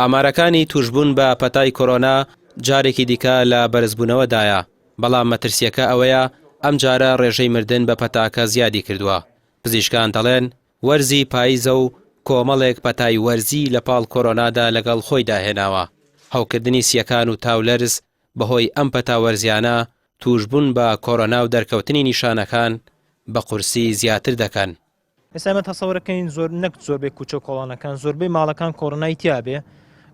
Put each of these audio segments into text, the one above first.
ئامارەکانی تووشبوون بە پەتای کۆرۆنا جارێکی دیکە لە بەرزبوونەوەدایە، بەڵام مەترسییەکە ئەوەیە ئەمجارە ڕێژەی مردن بە پەتاکە زیادی کردووە، پزیشکان دەڵێن وەرزی پاییزە و کۆمەڵێک پەتای وەرزی لەپاڵ کۆرۆنادا لەگەڵ خۆیدا هێناوە، هەوکردنی سییەکان و تاولەرز بەهۆی ئەم پەتا وەرزییانە تووشبوون بە کۆرۆنا و دەرکەوتنی نیشانەکان بە قورسی زیاتر دەکەن. ئێستا ئێمە تەسەورەکەین زۆر نەک زۆربەی کوچە کۆڵانەکان زۆربەی ماڵەکان کۆڕنای تیاابێ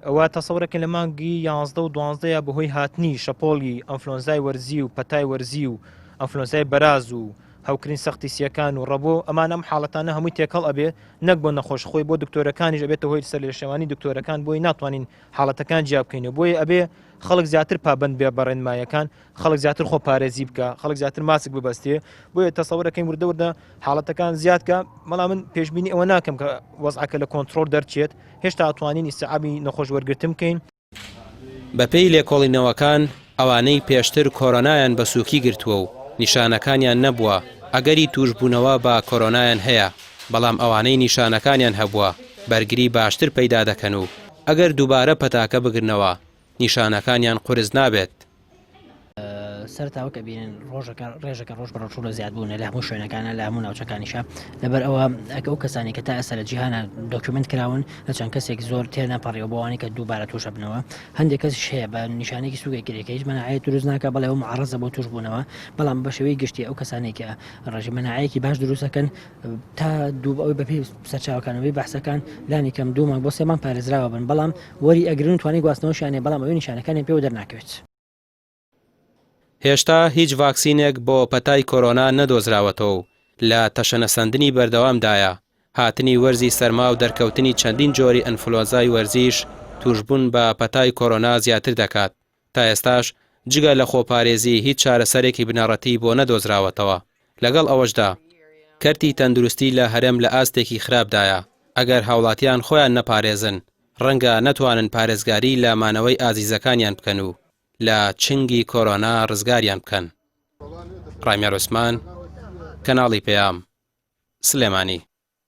ئەوە تەسەورەکە لە مانگی یازدە و دوانزدەیە بەهۆی هاتنی شەپۆلی ئەفلۆنزای وەرزی و پەتای وەرزی و ئەفلۆنزای بەراز و هەوکرین سەختی سیەکان و ڕەبۆ ئەمان ئەم حاڵەتانە هەمووی تێکەڵ ئەبێ نەک بۆ نەخۆش خۆی بۆ دکتۆرەکانیش ئەبێتە هۆی سەر لە شێوانی دکتۆرەکان بۆی ناتوانین حاڵەتەکان جیابکەین و بۆی ئەبێ خەڵک زیاتر پابند بێ بەڕێنمایەکان خەڵک زیاتر خۆ پارێزی بکە خەڵک زیاتر ماسک ببەستێ بۆیە تەسەورەکەین وردە وردە حاڵەتەکان زیادکە مەڵام من پێشببینی ئەوە ناکەم کە وەزعکە لە کۆنتترۆل دەرچێت هێشتا توانین ئیسعابی نەخۆش وەرگتم بکەین بەپێی لێکۆڵینەوەکان ئەوانەی پێشتر کۆرۆنایان بە سووکی گرتووە و نیشانەکانیان نەبووە ئەگەری توشببوونەوە بە کۆرۆنایان هەیە بەڵام ئەوانەی نیشانەکانیان هەبووە بەرگری باشتر پەیدا دەکەن و ئەگەر دووبارە پەتاکە بگرنەوە نیشانەکانیان قورس نابێت. سەر تاوەکە بینن ڕۆژەکە ڕێژەکە ڕۆژ بە ڕۆژوو لە زیادبوونە لە هەموو شوێنەکانە لە هەموو ناوچەکانیشە لەبەر ئەوە ئەکە ئەو کەسانی کە تا ئێستا لە جیهانە دۆکیومنت کراون لە چەند کەسێک زۆر تێنە پەڕیەوە بۆوانی کە دووبارە تووشە بنەوە هەندێک کەس هەیە بە نیشانێکی سوگە گرێکە هیچ منعەت دروست ناکە بەڵێ و معڕزە بۆ توش بوونەوە بەڵام بەشێوەی گشتی ئەو کەسانێکە ڕژی منعەیەکی باش دروستەکەن تا دوو ئەوەی بەپی سەرچاوکانەوەی بەحسەکان لانی کەم دوو مانگ بۆ سێ مانگ پارێزراوە بن بەڵام وەری ئەگرن توانی گواستنەوەشیانێ بەڵام ئەوەی نیشانەکانی پێوە دەرناکەوێت. هێشتا هیچ ڤاکسینێک بۆ پەتای کۆرۆنا نەدۆزراوەتەوە و لە تەشەنەسەندنی بەردەوامدایە، هاتنی وەرزی سەرما و دەرکەوتنی چەندین جۆری ئەنفلۆنزای وەرزیش تووشبوون بە پەتای کۆرۆنا زیاتر دەکات. تا ئێستاش جگە لە خۆپارێزی هیچ چارەسەرێکی بنەڕەتیی بۆ نەدۆزراوەتەوە، لەگەڵ ئەوەشدا کەرتی تەندروستی لە هەرێم لە ئاستێکی خراپدایە، ئەگەر هاوڵاتیان خۆیان نەپارێزن ڕەنگە نەتوانن پارێزگاری لە مانەوەی ئازیزەکانیان بکەن و لە چنگی کۆرۆنا ڕزگاریان بکەن. ڕامیار عوسمان، کەناڵی پەیام، سلێمانی.